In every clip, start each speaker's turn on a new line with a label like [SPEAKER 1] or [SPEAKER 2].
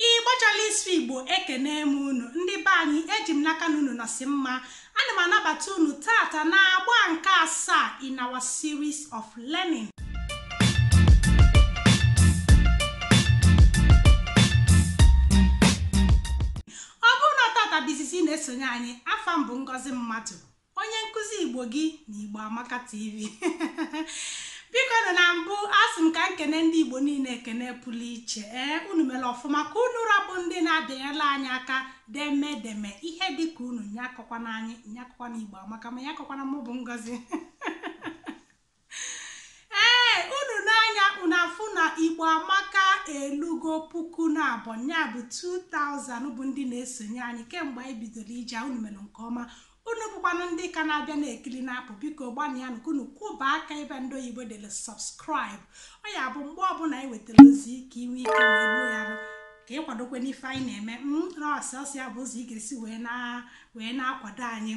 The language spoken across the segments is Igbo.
[SPEAKER 1] ịgbachala ịsụ igbo ekene m unu ndị be anyị eji m n'aka na unu nọsị mma ana m anabata unu tata na agba nke asaa in our series of learning ọ bụrụ na tata bụ izizi ị na-esonye anyị afa m bụ ngozi mmadụ onye nkụzi igbo gị na igbo amaka tv biko na mbụ asị m ka m kene ndị igbo niile ekene pụrụ iche ee unu mere ọfụma ka unu ra bụ ndị na-abịanyela anyị aka deme deme ihe dịka unu nya akọkwana anyị nya akọkwana igbo amaka ma nya akọkwana mụ bụ ngozi ee unu nee anya unu afụ na igbo amaka elugo puku naabọ ya bụ 2000 bụ ndị na-esonye anyị kemgbe anyị bidoro ije unu mere nke ọma unu bụkwanụ ndị ka na-abịa na-ekiri na-apụ biko gbanịa nụ ka unu kụba aka ebe ndị oyibo dere subscribe ọ ya bụ mgbe ọbụla anyị wetara ozi ka i nwee ike wee ruo ya arụ ka ị kwadokwe n'ife anyị na-eme na ọ sọsọ ya bụ ụzọ ị ga-esi wee na-akwado anyị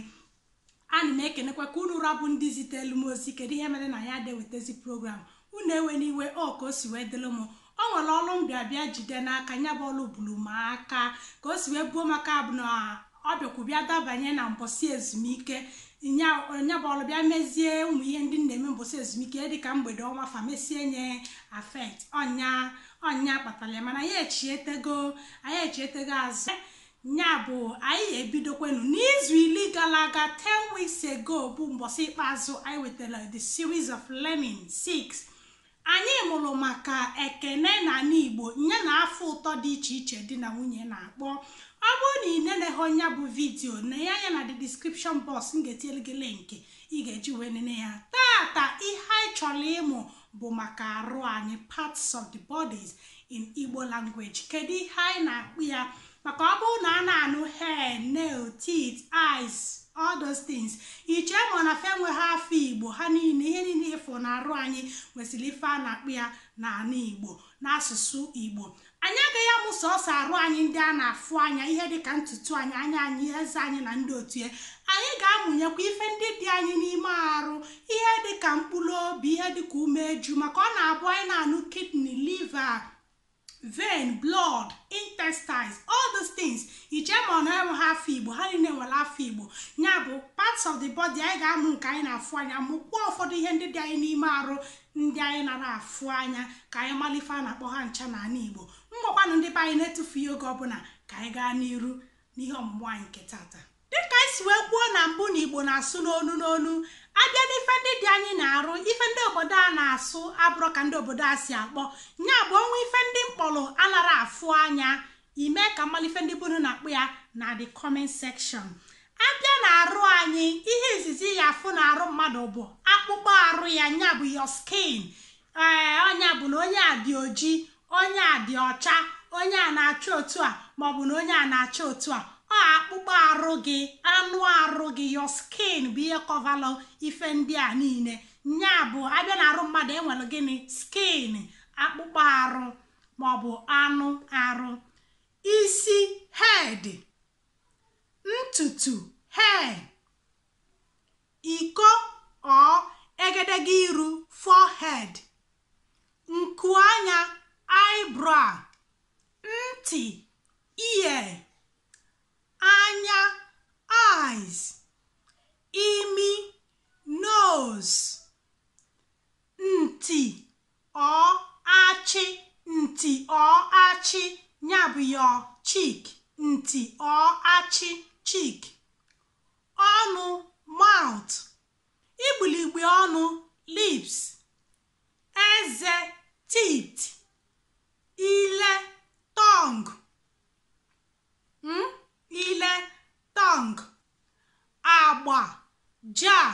[SPEAKER 1] Ana m ekenekwa ka unu ra bụ ndị zitelu m ozi kedu ihe mere na anyị adị ewetezi program unu ewena iwe ọ ka o si wee dịlụ m o nwere ọrụ m bịa bịa jide n'aka ya bụ ọrụ buru m aka ka o si wee buo maka bụ na ọ bịakwu bịa dabanye na mbọsị ezumike nya nya bụ ọrụ bịa mezie ụmụ ihe ndị m na-eme mbọsị ezumike dịka mgbede ọnwa fa mesie nya affect ọ nya ọ nya kpatara ya mana anyị echietego anyị echietego azụ Ya bụ, anyị ebidokwenu. N'izu iri gara aga, 10 weeks ago, bụ mbọsị ikpeazụ anyị wetara the series of learning 6. Anyị mụrụ maka ekene na ala Igbo ya na afa ụtọ dị iche iche di na nwunye na-akpọ. Ọ bụrụ na ị neneghọ ya bụ vidiyo nee anya na the description box m ga-etinyere gị link ị ga-eji wee nene ya. Tata ihe anyị chọrọ ịmụ bụ maka arụ anyị parts of the bodies in Igbo language kedu ihe anyị na-akpọ ya maka ọ bụrụ na a na-anụ hair nail teeth eyes all those things i chee ma na fa enweghị afa igbo ha niile ihe niile ị fụ na arụ anyị nwesịrị ife a na-akpọ ya n'ala igbo n'asụsụ igbo Anyị agaghị amụ sọọsọ arụ anyị ndị a na-afụ anya, ihe dị ka ntutu anyị, anya anyị, eze anyị, na ndị otu ya. Anyị ga-amụnyekwa ife ndị dị anyị n'ime arụ, ihe dị ka mkpụrụ obi, ihe dị ka umeju, maka ọ na-abụ anyị na-anụ kidney, liver, vein, blood, intestines, all these things. I chee ma ọ na enweghị afa Igbo, ha niile nwere afa Igbo. Ya bụ parts of the body anyị ga-amụ nke anyị na-afụ anya, mụkwa ụfọdụ ihe ndị dị anyị n'ime arụ ndị anyị nara afụ anya ka anyị malụ ife a na-akpọ ha ncha na ana Igbo ngwakwanụ ndị be anyị na-etufughị oge ọbụla ka anyị gaa n'iru n'ihe ọmụmụ anyị nke tata dịka anyị si wee kwuo na mbụ na Igbo na-asụ n'onu n'onu abịa n'ife ndị dị anyị na arụ ife ndị obodo a na-asụ abụrọ ka ndị obodo a si akpọ nya bụ o nwee ife ndị m kpọlụ anara afụ anya ime ka m malụ ife ndị be unu na-akpọ ya na the comment section abịa na arụ anyị ihe izizi ị ya-afụ na arụ mmadụ bụ akpụkpọ arụ ya nya bụ your skin ee eh, ọ nya bụ na onye a dị oji onye a dị ọcha onye a na-acha otu a maọbụ na onye a na-acha otu a ọ akpụkpọ arụ gị anụ arụ gị your skin bụ ihe coverlụ ife ndị a niile nya bụ abịa na arụ mmadụ enwere gịnị skin akpụkpọ arụ maọbụ anụ arụ isi head ntutu hair iko or egedege iru forehead nku anya eyebrow ntị ear anya eyes imi nose nti Or achị nti or achị nya bụ your cheek nti or achị cheek. Ọnụ mouth igbiligbi ọnụ lips. Eze teeth ile tongue hmm? ile tongue. Agba jaw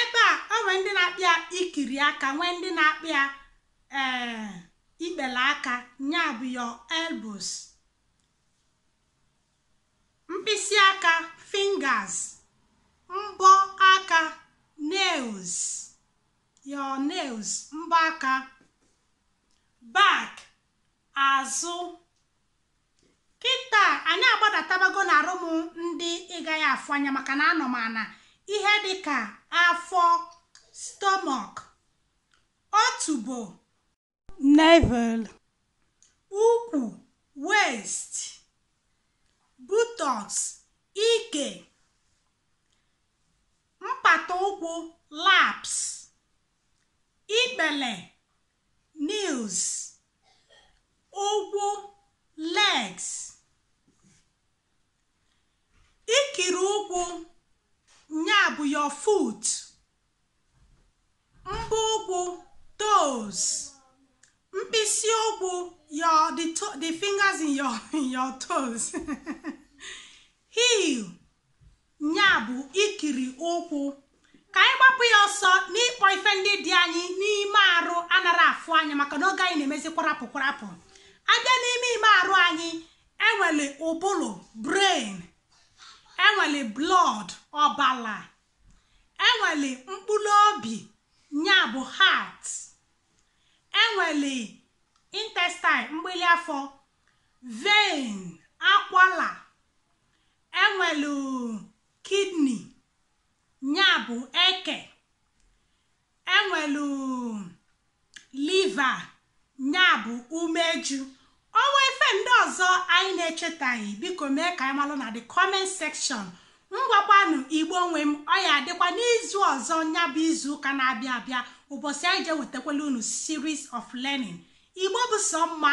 [SPEAKER 1] ebe a o nwee ndị na-akpọ ya ikiri aka nwee ndị na-akpọ ya ee eh, ikpele aka nya bụ your elbows mkpịsị aka fingers mbọ aka nails your nails mbọ aka back azụ kịta anyị agbadatabago na arụ m ndị ị gaghị afụ anya maka na anọ m ana ihe dị ka afọ stomach otubo navel ukwu waist buttocks ike mpata ụkwụ laps ikpele knees ụkwụ legs ikiri ụkwụ nya bụ your foot mbọ ụkwụ toes mkpịsị ụkwụ your the, to, the fingers in your, in your toes heel Nya bụ ikiri ụkwụ. Ka anyị gbapụ ya ọsọ n'ịkpọ ife ndị dị anyị n'ime arụ anara afụ anya maka na oge anyị na-emezi kwarapụ kwarapụ. Abịa n'ime ime arụ anyị enwelu ụbụlụ brain, enwelu blood ọbala, enwelu mkpụlụ obi nya bụ heart, enwelu intestine mgbili afọ, vein, akwala, enwelu kidney nya bụ eke enwelu liver nya bụ umeju o nwee ife ndị ọzọ anyị na-echetaghị biko mee ka anyị malụ na the comment section ngwakwanụ igbo nwe m ọ ya adịkwa n'izu ọzọ nya bụ izu ụka na-abịa abịa ụbọsị anyị ji ewetakwala unu series of learning igbo bụ sọ mma